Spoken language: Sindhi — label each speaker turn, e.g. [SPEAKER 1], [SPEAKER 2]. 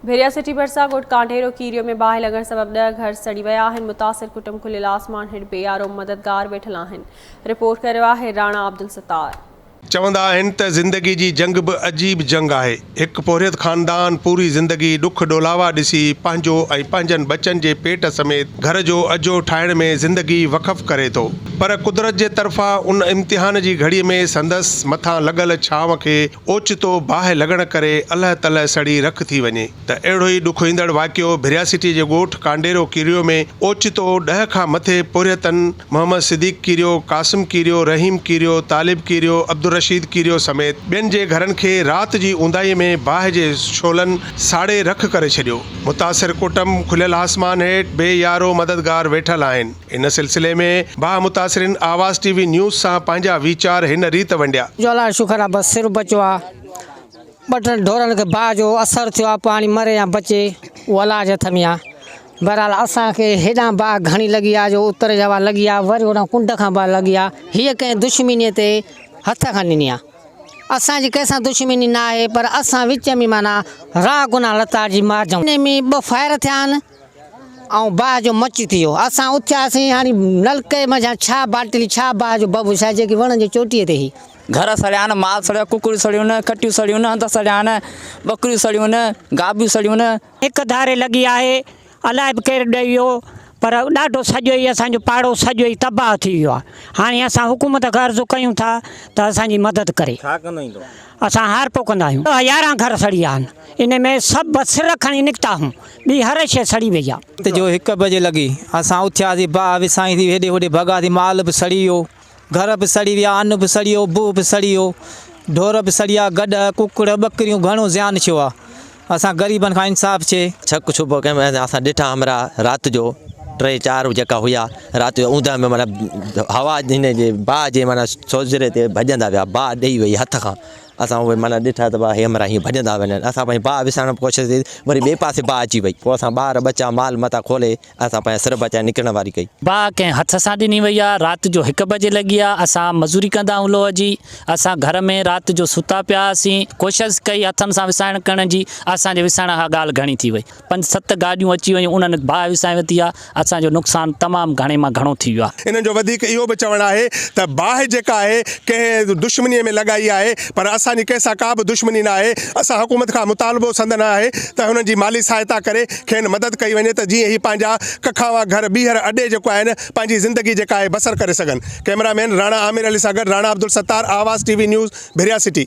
[SPEAKER 1] ڀيريا سٽي ڀرسان ڳوٺ ڪانڊيرو ڪيريو ۾ باهه لڳڻ سبب ڏهه گهر سڙي ويا آهن، متاثر ڪٽنب کليل آسمان هيٺ بي آر او مددگار ويٺل آهن، رپورٽ ڪريو آهي راڻا عبدالستار. چوندا آهن
[SPEAKER 2] ته زندگي جي جنگ به عجيب جنگ آهي. هڪ پورهيت خاندان پوري زندگي ڏک ڏولاوا ڏسي پنهنجو ۽ پنهنجن ٻچن جي پيٽ سميت گهر جو اجهو ٺاهڻ ۾ زندگي وقف ڪري ٿو پر قدرت جي طرفان ان امتحان جي گهڙي ۾ سندس مٿان لڳل ڇانو کي اوچتو باهه لڳڻ ڪري الهه تلهه سڙي رک ٿي وڃي ته اهڙو ئي ڏکوئيندڙ واقعو ڀرياسيٽي جي ڳوٺ ڪانڊيرو ڪيريو ۾ اوچتو ڏهه کان مٿي پورهيتن محمد صديق ڪيريو، قاسم ڪيريو، رحيم ڪيريو، طالب ڪيريو، عبدالرشيد ڪيريو سميت ٻين جي گهرن کي رات جي اونداهي ۾ باهه جي شعلن ساڙي رک ڪري ڇڏيو. متاثر ڪٽنب کليل آسمان هيٺ بي يارو مددگار ويٺل آهن. ان سلسلي ۾ باهه متاثرين آواز ٽي وي نيوز سان پنهنجا ويچار هن ريت ونڊيا. جو الاهي شڪر آ بس
[SPEAKER 3] سر بچيو آ ٻه ٽن ڍورن کي باهه جو اثر ٿيو آ پاڻي مري يا بچي اهو الاهي جي هٿ ۾ آ بهرحال اسان کي هيڏانهن باهه گهڻي لڳي آ جو اتر جي هوا لڳي آ وري هوڏانهن ڪنڊ کان باهه لڳي آ هيء ڪنهن دشمنيء تي هٿ کان ڏني آ اسان جي ڪنهن سان دشمني ناهي پر اسان وچ ۾ معنيٰ راهه گناه لتاڙجي مارجون ان ۾ ٻه فائر ٿيا آهن. ۽ باهه جو مچ ٿي ويو. اسان اٿياسين هاڻي نلڪي منجهان ڇا باٽلي ڇا باهه جو ببو ڇا جيڪي وڻن جي چوٽيء تي هئي. گهر سڙيان،
[SPEAKER 4] مال سڙيو، ڪڪڙيون سڙيون، کٽيون سڙيون، هنڌ سڙيان، ٻڪريون سڙيون، گابيون سڙيون. هڪ ڌاري لڳي
[SPEAKER 3] آهي، الائي به ڪير ڏئي ويو پر ڏاڍو سڄو ئي اسان جو پاڙو سڄو ئي تباهه ٿي ويو آهي. هاڻي اسان حڪومت کان عرض ڪيون ٿا ته اسان جي مدد ڪري.
[SPEAKER 4] اسان هار پوکندا
[SPEAKER 3] آهيون ته يارهن گهر سڙي ويا آهن، ان ۾ سڀ بس سر کڻي نڪتا هون، ٻي هر شيء سڙي وئي آهي. رات جو هڪ بجي لڳي
[SPEAKER 5] اسان اٿياسين، باهه وسائين ٿي هيڏي هوڏي ڀڳاسين، مال به سڙي ويو، گهر به سڙي ويا، ان به سڙي ويو، بوء به سڙي ويو، ڍور به سڙي ويا، گڏهه، ڪڪڙ، ٻڪريون گهڻو زيان ٿيو آهي. اسان غريبن کان انصاف چي. ڇڪ ڇپ ڪيم
[SPEAKER 6] ۽ اسان ڏٺا همراهه رات جو ٽي چار جيڪا هيا رات جو اوندهه ۾ معنيٰ هوا هن جي باهه جي معنيٰ سوزري تي ڀڄندا ويا باهه ڏئي وئي هٿ کان اسان اهي معنيٰ ڏٺا ته هي همراهه هيئن ڀڄندا وڃن اسان پنهنجي باهه وسارڻ جي ڪوشش ڪئي وري ٻئي پاسي باهه اچي وئي پوء اسان ٻار ٻچا مال متا کولي اسان پنهنجا سر بچائي نڪرڻ واري ڪئي. باهه ڪنهن هٿ سان
[SPEAKER 7] ڏني وئي آ. رات جو هڪ بجي لڳي آ. اسان مزوري ڪندا هئون لوهه جي. اسان گهر ۾ رات جو ستا پيا هئاسين. ڪوشس ڪئي هٿن سان وسائڻ ڪرڻ جي. اسان جي وسائڻ کان ڳالهه گهڻي ٿي وئي. پنج ست گاڏيون اچي ويون. انهن باهه وسائي ورتي آ. اسان جو نقصان تمام گهڻي مان گهڻو ٿي ويو آ. انهن جو وڌيڪ اهو به
[SPEAKER 2] چوڻ آهي ته باهه جيڪا آهي ڪنهن دشمني ۾ لڳائي آهي پر اسان جي ڪنهن سان ڪا به دشمني نه آهي. اسان حڪومت کان مطالبو سندن آهي ته هنن جي مالي سهائتا ڪري. کين مدد ڪئي وڃي ته جيئن هي پنهنجا ڪکاوا گهر ٻيهر اڏي جيڪو آهن پنهنجي زندگي جيڪا آهي بسر ڪري سگهن ڪئميرا مين راڻا عامر علي سان گڏ Rana Abdul Sattar Awaz T V news Bhiria city.